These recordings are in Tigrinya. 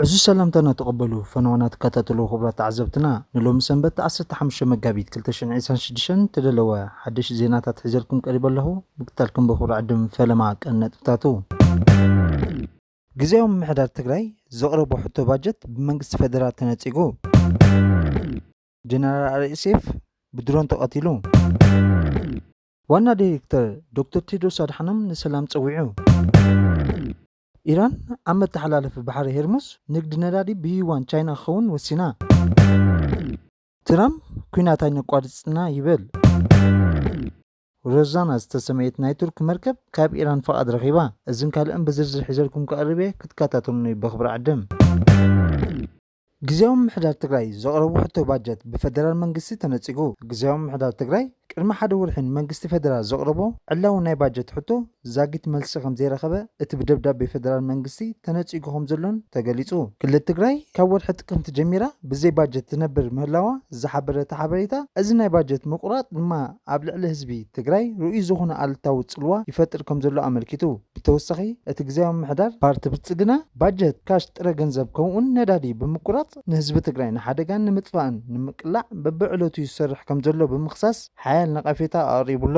ዕዙዝ ሰላምታና ተቐበሉ ፈነወና ትከታተሉ ክቡራት ተዓዘብትና ንሎሚ ሰንበት ዓሰርተ ሓሙሽተ መጋቢት ክልተ ሽሕን ዒስራን ሽዱሽተን እተደለወ ሓደሽ ዜናታት ሒዘልኩም ቀሪበ ኣለኹ። ምክትታልኩም በኹሪ ዕድም ፈለማ ቀን ነጥብታቱ ግዝያዊ ምምሕዳር ትግራይ ዘቕረቦ ሕቶ ባጀት ብመንግስቲ ፌደራል ተነጺጉ። ጀነራል ኣርኤ ሴፍ ብድሮን ተቐቲሉ። ዋና ዳይሬክተር ዶክተር ቴድሮስ ኣድሓኖም ንሰላም ጸዊዑ። ኢራን ኣብ መተሓላለፊ ባሕሪ ሄርሙዝ ንግዲ ነዳዲ ብዩዋን ቻይና ክኸውን ወሲና። ትራምፕ ኲናት ኣይነቋርጽና ይብል። ሮዛና ዝተሰመየት ናይ ቱርክ መርከብ ካብ ኢራን ፍቓድ ረኺባ። እዝን ካልእን ብዝርዝር ሒዘልኩም ክቐርብ እየ፣ ክትከታተሉኒ በኽብሪ ዕድም። ግዝያዊ ምምሕዳር ትግራይ ዘቕረቦ ሕቶ ባጀት ብፈደራል መንግስቲ ተነጺጉ። ግዝያዊ ምምሕዳር ትግራይ ቅድሚ ሓደ ወርሒ ንመንግስቲ ፈደራል ዘቕረቦ ዕላዊ ናይ ባጀት ሕቶ ዛጊት መልሲ ከምዘይረኸበ እቲ ብደብዳቤ ፈደራል መንግስቲ ተነጺጉ ከምዘሎን ተገሊጹ። ክልል ትግራይ ካብ ወርሒ ጥቅምቲ ጀሚራ ብዘይ ባጀት ትነብር ምህላዋ ዝሓበረ እቲ ሓበሬታ፣ እዚ ናይ ባጀት ምቁራጽ ድማ ኣብ ልዕሊ ህዝቢ ትግራይ ርኡይ ዝኾነ ኣሉታዊ ጽልዋ ይፈጥር ከምዘሎ ኣመልኪቱ። ብተወሳኺ እቲ ግዝያዊ ምምሕዳር ፓርቲ ብልፅግና ባጀት፣ ካሽ፣ ጥረ ገንዘብ ከምኡ'ውን ነዳዲ ብምቁራፅ ንህዝቢ ትግራይ ንሓደጋ ንምጥፋእን ንምቅላዕ በቢዕለቱ ይሰርሕ ከምዘሎ ብምኽሳስ ሓያል ነቐፌታ ኣቕሪቡ'ሎ።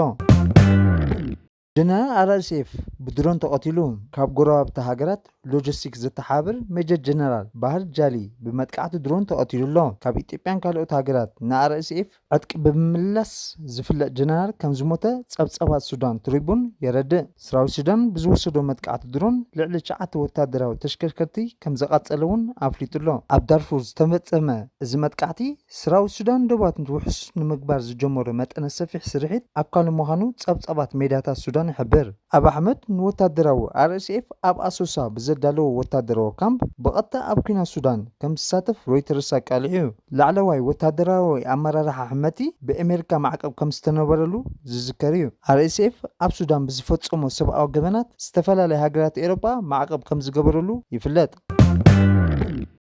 ጀነራል RSF ብድሮን ተቐቲሉ። ካብ ጎረባብቲ ሃገራት ሎጀስቲክስ ዘተሓባብር ሜጀር ጀነራል ባህር ጃሊ ብመጥቃዕቲ ድሮን ተቐቲሉ'ሎ። ካብ ኢትዮጵያን ካልኦት ሃገራት ንኣር-ኤስ-ኤፍ ዕጥቂ ብምምላስ ዝፍለጥ ጀነራል ከምዝሞተ ጸብጻባት ሱዳን ትሪቡን የረድእ። ሰራዊት ሱዳን ብዝወሰዶ መጥቃዕቲ ድሮን ልዕሊ ትሽዓተ ወተሃደራዊ ተሽከርከርቲ ከምዘቓጸለ'ውን ኣፍሊጡ'ሎ። ኣብ ዳርፉር ዝተፈጸመ እዚ መጥቃዕቲ፣ ሰራዊት ሱዳን ዶባት ውሑስ ንምግባር ዝጀመሮ መጠነ ሰፊሕ ስርሒት ኣካሉ ምዃኑ ጸብጻባት ሜድያታት ሱዳን ይሕብር። ኣብ ኣሕመድ ንወታደራዊ RSF ኣብ ኣሶሳ ብዘዳለዎ ወታደራዊ ካምፕ ብቐጥታ ኣብ ኲናት ሱዳን ከም ዝሳተፍ ሮይተርስ ኣቃሊዑ'ዩ። ላዕለዋይ ወታደራዊ ኣመራርሓ ሕመቲ ብኤመሪካ ማዕቀብ ከም ዝተነበረሉ ዝዝከር'ዩ። RSF ኣብ ሱዳን ብዝፈጸሞ ሰብኣዊ ገበናት ዝተፈላለያ ሃገራት ኤሮጳ ማዕቀብ ከም ዝገበረሉ ይፍለጥ።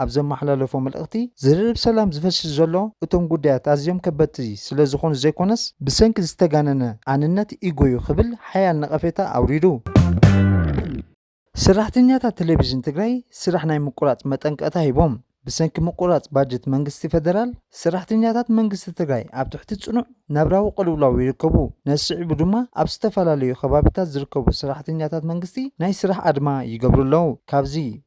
ኣብ ዘመሓላለፎ መልእኽቲ፣ ዝርርብ ሰላም ዝፈሽል ዘሎ እቶም ጉዳያት ኣዝዮም ከበድቲ ስለዝኾኑ ዘይኮነስ ብሰንኪ ዝተጋነነ ኣንነት ኢጎ'ዩ ክብል ሓያል ነቐፌታ ኣውሪዱ። ሰራሕተኛታት ቴሌቪዥን ትግራይ ስራሕ ናይ ምቁራፅ መጠንቀቕታ ሂቦም። ብሰንኪ ምቁራፅ ባጀት መንግስቲ ፌደራል፣ ሰራሕተኛታት መንግስቲ ትግራይ ኣብ ትሕቲ ፅኑዕ ናብራዊ ቅልውላው ይርከቡ። ነዚ ስዒቡ ድማ ኣብ ዝተፈላለዩ ከባቢታት ዝርከቡ ሰራሕተኛታት መንግስቲ ናይ ስራሕ ኣድማ ይገብሩ ኣለው። ካብዚ።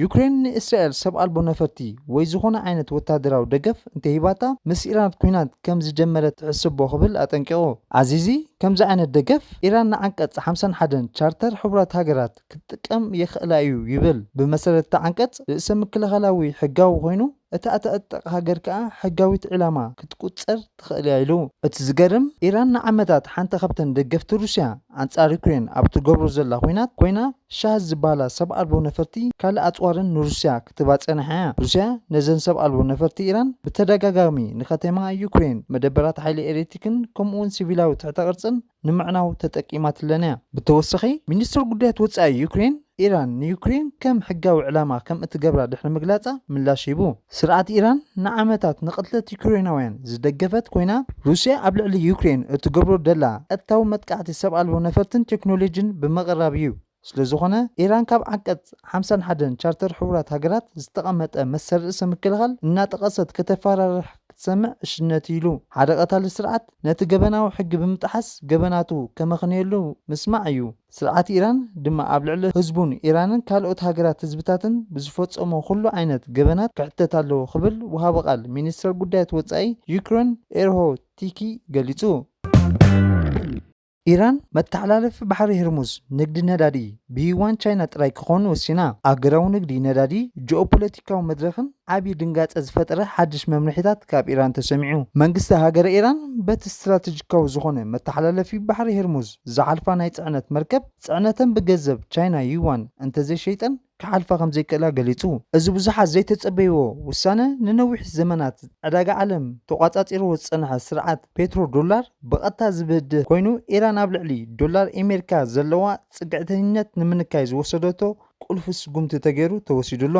ዩክሬን ንእስራኤል ሰብ ኣልቦ ነፈርቲ ወይ ዝኾነ ዓይነት ወተሃደራዊ ደገፍ እንተሂባታ ምስ ኢራን ኲናት ከም ዝጀመረት ትሕሰቦ ክብል ኣጠንቂቑ። ኣዚዚ፣ ከምዚ ዓይነት ደገፍ፣ ኢራን ንዓንቀጽ ሓምሳን ሓደን ቻርተር ሕቡራት ሃገራት ክትጥቀም የኽእላ እዩ ይብል። ብመሰረት እቲ ዓንቀጽ፣ ርእሰ-ምክልኻላዊ ሕጋዊ ኮይኑ፣ እታ እትዕጠቕ ሃገር ከኣ ሕጋዊት ዒላማ ክትቁጸር ትኽእል'ያ ኢሉ። እቲ ዝገርም፣ ኢራን ንዓመታት ሓንቲ ካብተን ደገፍቲ ሩስያ ኣንጻር ዩክሬን ኣብ ትገብሮ ዘላ ኹናት ኮይና፣ ሻህዝ ዝበሃላ ሰብ ኣልቦ ነፈርቲ ካልእ ኣጽዋርን ንሩስያ ክትህባ ጸኒሓ'ያ። ሩስያ ነዘን ሰብ ኣልቦ ነፈርቲ ኢራን ብተደጋጋሚ ንከተማ ዩክሬን፣ መደበራት ሓይሊ ኤሌትክን ከምኡ'ውን ሲቪላዊ ትሕተ ቅርጽን፣ ንምዕናው ተጠቂማትለን'ያ። ብተወሳኺ፣ ሚኒስተር ጉዳያት ወጻኢ ዩክሬን፣ ኢራን ንዩክሬን ከም ሕጋዊ ዕላማ ከም እትገብራ ድሕሪ ምግላጻ ምላሽ ሂቡ። ስርዓት ኢራን ንዓመታት ንቕትለት ዩክሬናውያን ዝደገፈት ኮይና፣ ሩስያ ኣብ ልዕሊ ዩክሬን እትገብሮ ደላ ቀጥታዊ መጥቃዕቲ ሰብ ኣልቦ ነፈርትን ቴክኖሎጂን ብምቕራብ'ዩ። ስለዝኾነ ኢራን ካብ ዓንቀፅ ሓምሳን ሓደን ቻርተር ሕቡራት ሃገራት ዝተቐመጠ መሰል ርእሰ ምክልኻል እናጠቐሰት ከተፈራርሕ ክትሰምዕ ዕሽነት እዩ ኢሉ። ሓደ ቀታሊ ስርዓት ነቲ ገበናዊ ሕጊ ብምጥሓስ ገበናቱ ከመኽንየሉ ምስማዕ እዩ። ስርዓት ኢራን ድማ ኣብ ልዕሊ ህዝቡን ኢራንን ካልኦት ሃገራት ህዝብታትን ብዝፈፀሞ ኩሉ ዓይነት ገበናት ክሕተት ኣለዎ ክብል ወሃቢ ቃል ሚኒስተር ጉዳያት ወፃኢ ዩክሬን ኤርሆ ቲኪ ገሊፁ። ኢራን መተሓላለፊ ባሕሪ ህርሙዝ ንግዲ ነዳዲ ብዩዋን ቻይና ጥራይ ክኾን ወሲና። ኣህጉራዊ ንግዲ ነዳዲ ጂኦፖለቲካዊ መድረኽን ዓብዪ ድንጋጸ ዝፈጠረ ሓድሽ መምርሒታት ካብ ኢራን ተሰሚዑ። መንግስቲ ሃገረ ኢራን በቲ ስትራተጂካዊ ዝኾነ መተሓላለፊ ባሕሪ ህርሙዝ ዝሓልፋ ናይ ጽዕነት መርከብ ጽዕነተን ብገዘብ ቻይና ዩዋን እንተዘይሸይጠን፣ ክሓልፋ ከም ዘይክእላ ገሊጹ። እዚ ብዙሓት ዘይተጸበይዎ ውሳነ፣ ንነዊሕ ዘመናት ዕዳጋ ዓለም ተቖጻጺርዎ ዝጸንሐ ስርዓት ፔትሮ ዶላር ብቐጥታ ዝበድህ ኮይኑ፣ ኢራን ኣብ ልዕሊ ዶላር ኤሜሪካ ዘለዋ ጽግዕተኝነት ንምንካይ ዝወሰደቶ ቁልፊ ስጉምቲ ተገይሩ ተወሲዱ ኣሎ።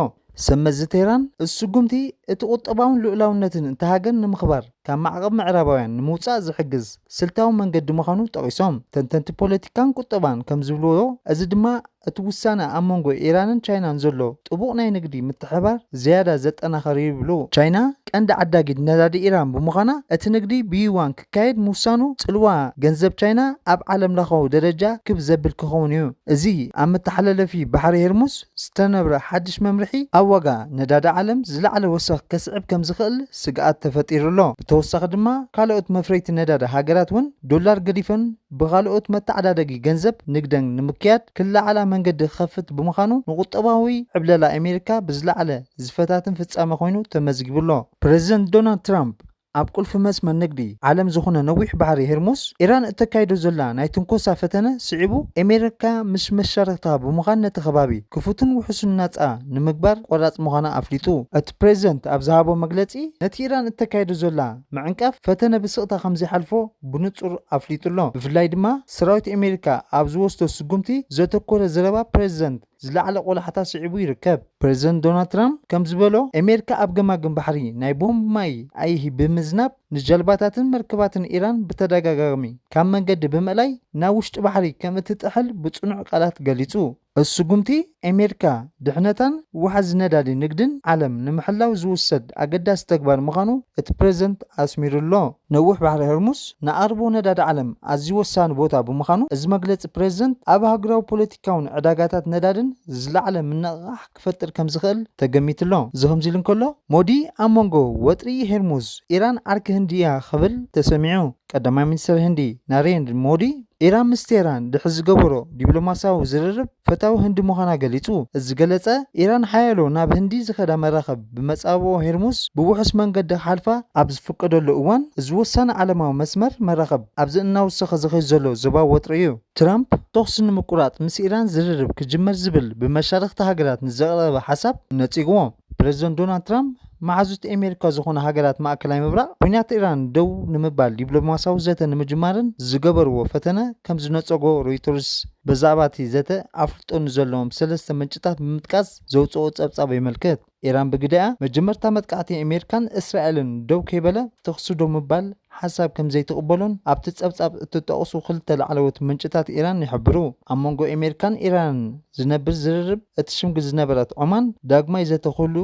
ሰብመዚ ቴህራን፣ እዚ ስጉምቲ፣ እቲ ቁጠባውን ልኡላውነትን እታ ሃገር ንምኽባር፣ ካብ ማዕቐብ ምዕራባውያን ንምውፃእ ዝሕግዝ ስልታዊ መንገዲ ምዃኑ ጠቒሶም። ተንተንቲ ፖለቲካን ቁጠባን ከምዝብልዎ እዚ ድማ እቲ ውሳነ ኣብ መንጎ ኢራንን ቻይናን ዘሎ ጥቡቕ ናይ ንግዲ ምትሕብባር ዝያዳ ዘጠናኽር እዩ ይብሉ። ቻይና ቀንዲ ዓዳጊት ነዳዲ ኢራን ብምዃና እቲ ንግዲ ብዩዋን ክካየድ ምውሳኑ ፅልዋ ገንዘብ ቻይና ኣብ ዓለምለኻዊ ደረጃ ክብ ዘብል ክኸውን እዩ። እዚ ኣብ መተሓላለፊ ባሕሪ ሄርሙዝ ዝተነብረ ሓድሽ መምርሒ ኣብ ዋጋ ነዳዲ ዓለም ዝለዓለ ወሰኽ ከስዕብ ከምዝኽእል ስግኣት ተፈጢሩ ኣሎ። ብተወሳኺ ድማ ካልኦት መፍረይቲ ነዳዲ ሃገራት እውን ዶላር ገዲፈን ብኻልኦት መተዓዳደጊ ገንዘብ ንግደን ንምክያድ ክለዓላ መንገዲ ክኸፍት ብምዃኑ ንቁጠባዊ ዕብለላ ኣሜሪካ ብዝለዓለ ዝፈታትን ፍፃመ ኮይኑ ተመዝጊቡ ኣሎ። ፕረዚደንት ዶናልድ ትራምፕ ኣብ ቁልፊ መስመር ንግዲ ዓለም ዝኹነ ነዊሕ ባሕሪ ሄርሙዝ፣ ኢራን እተካይዶ ዘላ ናይ ትንኮሳ ፈተነ ስዒቡ፣ ኤሜሪካ ምስ መሻርኽታ ብምዃን ነቲ ከባቢ ክፉትን ውሑስን ናጻ ንምግባር ቆራጽ ምዃና ኣፍሊጡ። እቲ ፕረዚደንት ኣብ ዝሃቦ መግለጺ፣ ነቲ ኢራን እተካይዶ ዘላ ምዕንቃፍ ፈተነ ብስቕታ ከም ዘይሓልፎ ብንጹር ኣፍሊጡ ኣሎ። ብፍላይ ድማ ሰራዊት ኤሜሪካ ኣብ ዝወስዶ ስጉምቲ ዘተኮረ ዘረባ ፕረዚደንት። ዝለዓለ ቆላሕታ ስዒቡ ይርከብ። ፕረዚደንት ዶናልድ ትራምፕ ከም ዝበሎ፣ ኣሜሪካ ኣብ ገማግም ባሕሪ ናይ ቦምብ ማይ ኣይሂ ብምዝናብ ንጀልባታትን መርከባትን ኢራን ብተደጋጋሚ ካብ መንገዲ ብምእላይ ናብ ውሽጢ ባሕሪ ከም እትጥሕል ብጽኑዕ ቃላት ገሊጹ። እዚ ስጉምቲ፣ ኣሜሪካ ድሕነታን ዋሕዚ ነዳዲ ንግድን ዓለም ንምሕላው ዝውሰድ ኣገዳሲ ተግባር ምዃኑ እቲ ፕረዚደንት ኣስሚሩ'ሎ። ነዊሕ ባሕሪ ሆርሙዝ ንኣቕርቦ ነዳዲ ዓለም ኣዝዩ ወሳኒ ቦታ ብምዃኑ፣ እዚ መግለጺ ፕረዚደንት ኣብ ኣህጉራዊ ፖለቲካ፣ ቶን ዕዳጋታት ነዳድን ዝለዓለ ምንቕቓሕ ክፈጥር ከም ዝኽእል ተገሚቱ'ሎ። እዚ ከምዚ ኢሉ እንከሎ፣ ሞዲ ኣብ መንጎ ወጥሪ ሄርሙዝ፣ ኢራን ዓርኪ ህንዲ እያ ክብል ተሰሚዑ። ቀዳማይ ሚኒስተር ህንዲ ናሬንድ ሞዲ፣ ኢራን ምስ ቴህራን ድሕሪ ዝገበሮ ዲፕሎማስያዊ ዝርርብ ፈታዊ ህንዲ ምዃና ገሊጹ። እዚ ዝገለጸ፣ ኢራን ሓያሎ ናብ ህንዲ ዝኸዳ መራኽብ ብመጻብቦ ሄርሙዝ ብውሑስ መንገዲ ክሓልፋ ኣብ ዝፍቀደሉ እዋን፣ እዚ ወሳኒ ዓለማዊ መስመር መራኽብ ኣብዚ እናወሰኸ ዝኸይድ ዘሎ ዞባዊ ወጥሪ እዩ። ትራምፕ ተኹሲ ንምቁራጽ ምስ ኢራን ዝርርብ ክጅመር ዝብል ብመሻርኽቲ ሃገራት ንዝቐረበ ሓሳብ ነጺግዎ። ፕረዚደንት ዶናልድ ትራምፕ መሓዙት ኤሜሪካ ዝኾና ሃገራት ማእከላይ ምብራቕ ኲናት ኢራን ደው ንምባል ዲብሎማስያዊ ዘተ ንምጅማረን ዝገበርዎ ፈተነ ከምዝነጸጎ ሮይተርስ በዛዕባ'ቲ ዘተ ኣፍልጦ ንዘለዎም ሰለስተ ምንጭታት ብምጥቃስ ዘውጽኦ ጸብጻብ የመልክት። ኢራን ብግደኣ፣ መጀመርታ መጥቃዕቲ ኣሜሪካን እስራኤልን ደው ከይበለ ተዅሲ ደው ምባል ሓሳብ ከም ዘይትቕበሎን ኣብቲ ጸብጻብ እተጠቕሱ ክልተ ላዕለዎት ምንጭታት ኢራን ይሕብሩ። ኣብ መንጎ ኣሜሪካን ኢራንን ዝነብር ዝርርብ እትሽምግል ዝነበረት ዖማን፣ ዳግማይ ዘተ ክህሉ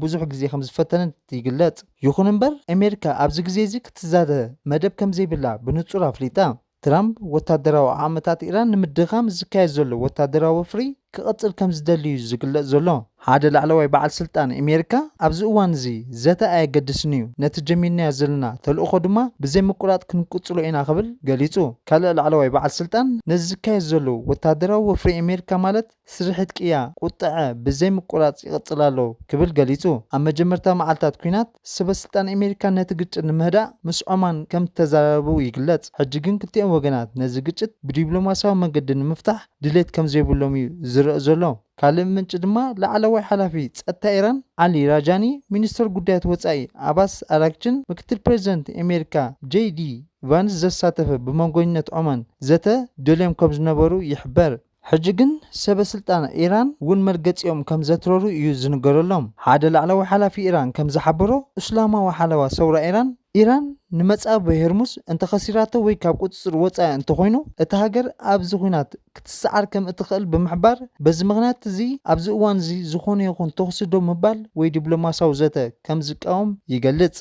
ብዙሕ ግዜ ከም ዝፈተነት ይግለጽ። ይዅን እምበር፣ ኣሜሪካ ኣብዚ ግዜ'ዚ ክትዛተ መደብ ከም ዘይብላ ብንጹር ኣፍሊጣ። ትራምፕ፣ ወታደራዊ ዓቕምታት ኢራን ንምድኻም ዝካየድ ዘሎ ወታደራዊ ወፍሪ ክቕጽል ከም ዝደሊ'ዩ ዝግለጽ ዘሎ። ሓደ ላዕለዋይ በዓል ስልጣን ኣሜሪካ፣ ኣብዚ እዋን'ዚ ዘተ ኣየገድስን'ዩ፣ ነቲ ጀሚርናዮ ዘለና ተልእኾ ድማ ብዘይ ምቁራጽ ክንቅጽሎ ኢና ክብል ገሊጹ። ካልእ ላዕለዋይ በዓል ስልጣን፣ ነዚ ዝካየድ ዘሎ ወታደራዊ ወፍሪ ኣሜሪካ ማለት፣ ስርሒት ቅያ ቁጠዐ ብዘይ ምቁራጽ ይቕጽል ኣሎ ክብል ገሊጹ። ኣብ መጀመርታ መዓልታት ኲናት፣ ሰበስልጣን ኣሜሪካ ነቲ ግጭት ንምህዳእ ምስ ዖማን ከም እተዘራረቡ ይግለጽ፣ ሕጂ ግን ክልቲኦም ወገናት ነዚ ግጭት ብዲፕሎማስያዊ መንገዲ ንምፍታሕ ድሌት ከም ዘይብሎም እዩ ዝርእ ዘሎ። ካልእ ምንጪ ድማ ላዕለዋይ ሓላፊ ጸጥታ ኢራን ዓሊ ራጃኒ፣ ሚኒስተር ጉዳያት ወጻኢ ዓባስ ኣራግቺን ምክትል ፕረዚደንት ኣሜሪካ ጀይ ዲ ቫንስ ዘሳተፈ ብመንጎኝነት ዖማን ዘተ ደልዮም ከም ዝነበሩ ይሕበር። ሕጂ ግን ሰበ ስልጣን ኢራን ውን መርገጺኦም ከም ዘትረሩ እዩ ዝንገረሎም። ሓደ ላዕለዋይ ሓላፊ ኢራን ከም ዝሓበሮ፣ እስላማዊ ሓለዋ ሰውራ ኢራን፣ ኢራን ንመጻብቦ ሄርሙዝ እንተ ኸሲራቶ ወይ ካብ ቁጽጽር ወጻኢ እንተ ኾይኑ፣ እታ ሃገር ኣብዚ ኹናት ክትሰዓር ከም እትኸእል ብምሕባር፣ በዚ ምኽንያት እዚ ኣብዚ እዋን እዚ ዝኾነ ይኹን ተኹሲ ደው ምባል ወይ ዲፕሎማስያዊ ዘተ ከም ዝቃወም ይገልጽ።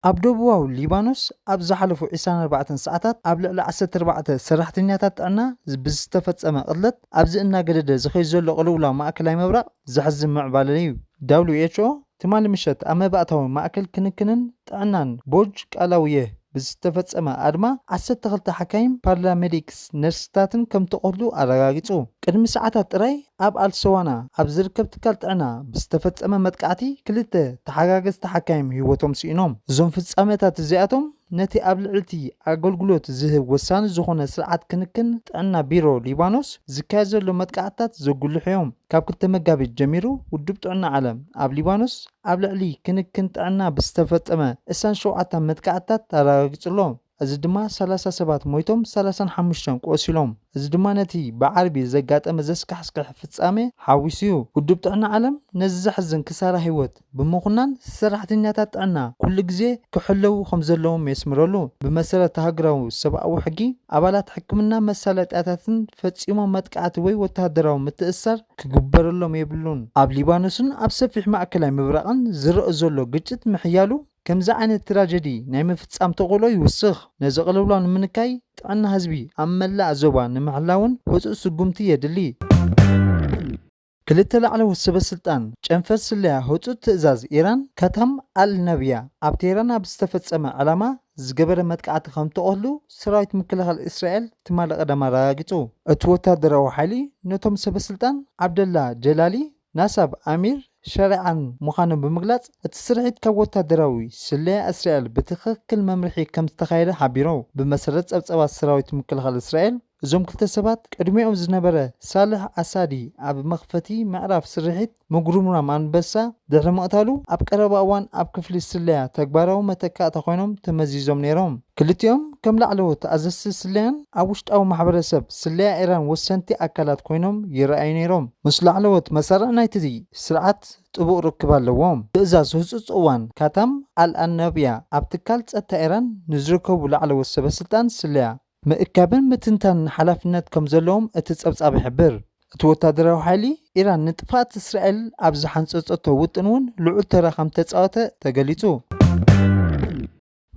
ኣብ ደቡባዊ ሊባኖስ ኣብ ዝሓለፉ ዕስራን ኣርባዕተን ሰዓታት ኣብ ልዕሊ ዓሰርተ ኣርባዕተ ሰራሕተኛታት ጥዕና ብዝተፈጸመ ቅትለት ኣብዚ እናገደደ ዝኸይድ ዘሎ ቅልውላው ማእከላይ ምብራቕ ዘሕዝን ምዕባለ'ዩ። ዳብሊው ኤች ኦ ትማሊ ምሸት ኣብ መባእታዊ ማእከል ክንክንን ጥዕናን ቦርጅ ቃላውየህ ብዝተፈጸመ ኣድማ ዓሰርተ ክልተ ሓካይም፣ ፓራሜዲክስን ነርስታትን ከምተቖትሉ ኣረጋጊጹ። ቅድሚ ሰዓታት ጥራይ ኣብ ኣልሰዋና ኣብ ዝርከብ ትካል ጥዕና ብዝተፈጸመ መጥቃዕቲ ክልተ ተሓጋገዝቲ ሓካይም ህይወቶም ስኢኖም። እዞም ፍጻመታት እዚኣቶም ነቲ ኣብ ልዕሊ'ቲ ኣገልግሎት ዝህብ ወሳኒ ዝዀነ ስርዓት ክንክን ጥዕና ቢሮ ሊባኖስ ዝካየድ ዘሎ መጥቃዕትታት ዘጕልሑ'ዮም። ካብ ክልተ መጋቢት ጀሚሩ ውድብ ጥዕና ዓለም ኣብ ሊባኖስ ኣብ ልዕሊ ክንክን ጥዕና ብዝተፈጸመ ዕስራን ሸውዓታን መጥቃዕትታት ኣረጋጊጹ'ሎ። እዚ ድማ ሰላሳ ሰባት ሞይቶም ሰላሳን ሓሙሽተን ቆሲሎም። እዚ ድማ ነቲ ብዓርቢ ዘጋጠመ ዘስካሕስክሕ ፍጻመ ሓዊሱ'ዩ። ውድብ ጥዕና ዓለም ነዚ ዘሕዝን ክሳራ ህይወት ብምኹናን ሰራሕተኛታት ጥዕና ኩሉ ግዜ ክሕለዉ ከምዘለዎም የስምረሉ። ብመሰረት ሃገራዊ ሰብኣዊ ሕጊ፣ ኣባላት ሕክምና መሳለጥያታትን ፈጺሞም መጥቃዕቲ ወይ ወተሃደራዊ ምትእስሳር ክግበረሎም የብሉን። ኣብ ሊባኖስን ኣብ ሰፊሕ ማእከላይ ምብራቕን ዝረእ ዘሎ ግጭት ምሕያሉ፣ ከምዚ ዓይነት ትራጀዲ ናይ ምፍጻም ተኽእሎ ይውስኽ። ነዚ ቅልውላው ንምንካይ ጥዕና ህዝቢ ኣብ መላእ ዞባ ንምሕላውን ህጹጽ ስጉምቲ የድሊ። ክልተ ላዕለዎት ሰበስልጣን ጨንፈር ስለያ ህጹጽ ትእዛዝ ኢራን ካታም ኣል ናብያ ኣብ ቴህራን ኣብ ዝተፈጸመ ዕላማ ዝገበረ መጥቃዕቲ ከም እተቐትሉ ሰራዊት ምክልኻል እስራኤል ትማሊ ቀዳም ኣረጋጊጹ። እቲ ወተሃደራዊ ሓይሊ ነቶም ሰበስልጣን ዓብደላ ጀላሊ ናሳብ ኣሚር ሸሪዓን ምዃኑ ብምግላጽ፣ እቲ ስርሒት ካብ ወተሃደራዊ ስለያ እስራኤል ብትኽክል መምርሒ ከም ዝተኻየደ ሓቢሩ። ብመሰረት ጸብጻባት ሰራዊት ምክልኻል እስራኤል፣ እዞም ክልተ ሰባት ቅድሚኦም ዝነበረ ሳልሕ ኣሳዲ ኣብ መኽፈቲ ምዕራፍ ስርሒት ምጉርምራም ኣንበሳ ድሕሪ ምቕታሉ፣ ኣብ ቀረባ እዋን ኣብ ክፍሊ ስለያ ተግባራዊ መተካእታ ኮይኖም ተመዚዞም ነይሮም። ክልቲኦም ከም ላዕለዎት ኣዘዝቲ ስለያን ኣብ ውሽጣዊ ማሕበረሰብ ስለያ ኢራን ወሰንቲ ኣካላት ኮይኖም ይርኣዩ ነይሮም። ምስ ላዕለዎት መሳርዕ ናይቲ ስርዓት ጥቡቕ ርክብ ኣለዎም። ትእዛዝ ህጹጽ እዋን ካታም ኣል-ኣናብያ ኣብ ትካል ጸጥታ ኢራን ንዝርከቡ ላዕለዎት ሰበስልጣን ስለያ ምእካብን ምትንታንን ሓላፍነት ከም ዘለዎም እቲ ጸብጻብ ይሕብር። እቲ ወተሃደራዊ ሓይሊ ኢራን ንጥፍኣት እስራኤል ኣብ ዝሓንጸጸቶ ውጥን'ውን ልዑል ተራ ከም እተጻወተ ተገሊጹ።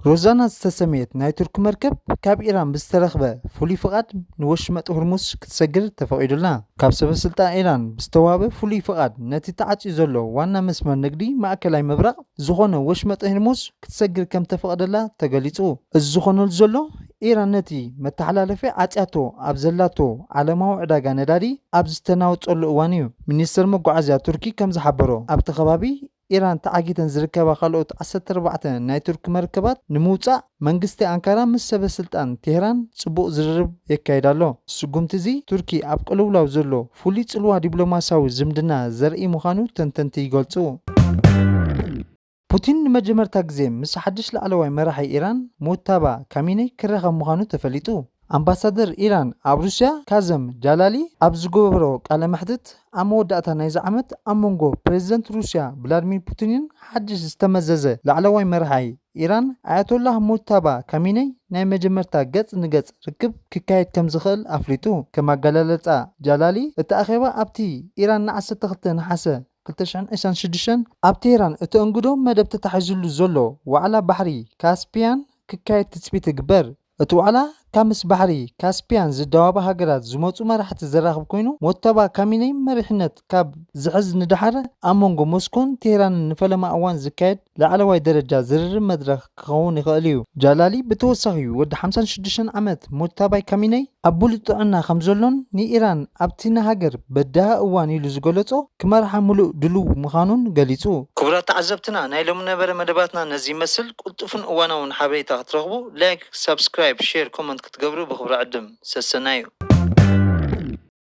ሮዛና ዝተሰምየት ናይ ቱርኪ መርከብ ካብ ኢራን ብዝተረኽበ ፍሉይ ፍቓድ ንወሽመጥ ሁርሙዝ ክትሰግር ተፈቒዱላ። ካብ ሰበስልጣን ኢራን ብዝተዋህበ ፍሉይ ፍቓድ ነቲ ተዓጽዩ ዘሎ ዋና መስመር ንግዲ ማእከላይ ምብራቕ ዝዀነ ወሽመጥ ህርሙዝ ክትሰግር ከም እተፈቕደላ ተገሊጹ። እዚ ዝዀነሉ ዘሎ፣ ኢራን ነቲ መተሓላለፊ ዓጽያቶ ኣብ ዘላቶ ዓለማዊ ዕዳጋ ነዳዲ ኣብ ዝተናወጸሉ እዋን'ዩ። ሚኒስተር መጓዓዝያ ቱርኪ ከም ዝሓበሮ፣ ኣብቲ ከባቢ ኢራን ተዓጊተን ዝርከባ ካልኦት ዓሰርተ ኣርባዕተ ናይ ቱርኪ መርከባት ንምውጻእ መንግስቲ ኣንካራ ምስ ሰበ ስልጣን ቴህራን ጽቡቕ ዝርርብ የካይድ ኣሎ። ስጉምቲ'ዚ ቱርኪ ኣብ ቅልውላው ዘሎ ፍሉይ ጽልዋ ዲፕሎማስያዊ ዝምድና ዘርእይ ምዃኑ ተንተንቲ ይገልጹ። ፑቲን ንመጀመርታ ግዜ ምስ ሓድሽ ላዕለዋይ መራሒ ኢራን ሙጅታባ ካሚነይ ክራኸብ ምዃኑ ተፈሊጡ። ኣምባሳደር ኢራን ኣብ ሩስያ ካዘም ጃላሊ ኣብ ዝገበሮ ቃለ መሕትት፣ ኣብ መወዳእታ ናይዚ ዓመት ኣብ መንጎ ፕረዚደንት ሩስያ ቭላድሚር ፑቲንን ሓድሽ ዝተመዘዘ ላዕለዋይ መራሒ ኢራን ኣያቶላህ ሙጅታባ ካሚነይ ናይ መጀመርታ ገጽ ንገጽ ርክብ ክካየድ ከምዝኽእል ኣፍሊጡ። ከም ኣገላልጻ ጃላሊ፣ እቲ ኣኼባ ኣብቲ ኢራን ን ዓሰርተ ክልተ ነሓሰ ክልተ ሽሕን ዕስራን ሽዱሽተን ኣብ ቴህራን እተእንግዶ መደብ ተታሒዝሉ ዘሎ ዋዕላ ባሕሪ ካስፕያን ክካየድ ትጽቢት ይግበር። እቲ ዋዕላ ካብ ምስ ባሕሪ ካስፒያን ዝዳወባ ሃገራት ዝመጹ መራሕቲ ዘራኽብ ኮይኑ፣ ሞተባ ካሚነይ መሪሕነት ካብ ዝሕዝ ንደሓር ኣብ መንጎ ሞስኮን ቴህራንን ንፈለማ እዋን ዝካየድ ላዕለዋይ ደረጃ ዝርርብ መድረኽ ክኸውን ይኽእል እዩ። ጃላሊ ብተወሳኺ ወዲ ሓምሳን ሽዱሽተን ዓመት ሞተባይ ካሚነይ ኣብ ብሉጽ ጥዕና ከም ዘሎን ንኢራን ኣብቲ ንሃገር በዳሂ እዋን ኢሉ ዝገለጾ ክመርሓ ምሉእ ድሉው ምኻኑን ገሊጹ። ክቡራት ተዓዘብትና ናይ ሎሚ ነበረ መደባትና ነዚ ይመስል። ቅልጡፍን እዋናውን ሓበሬታ ክትረኽቡ ላይክ ሳብስክራይብ ሼር ኮመንት ክትገብሩ ብኽብሪ ዕድም። ሰሰናዩ።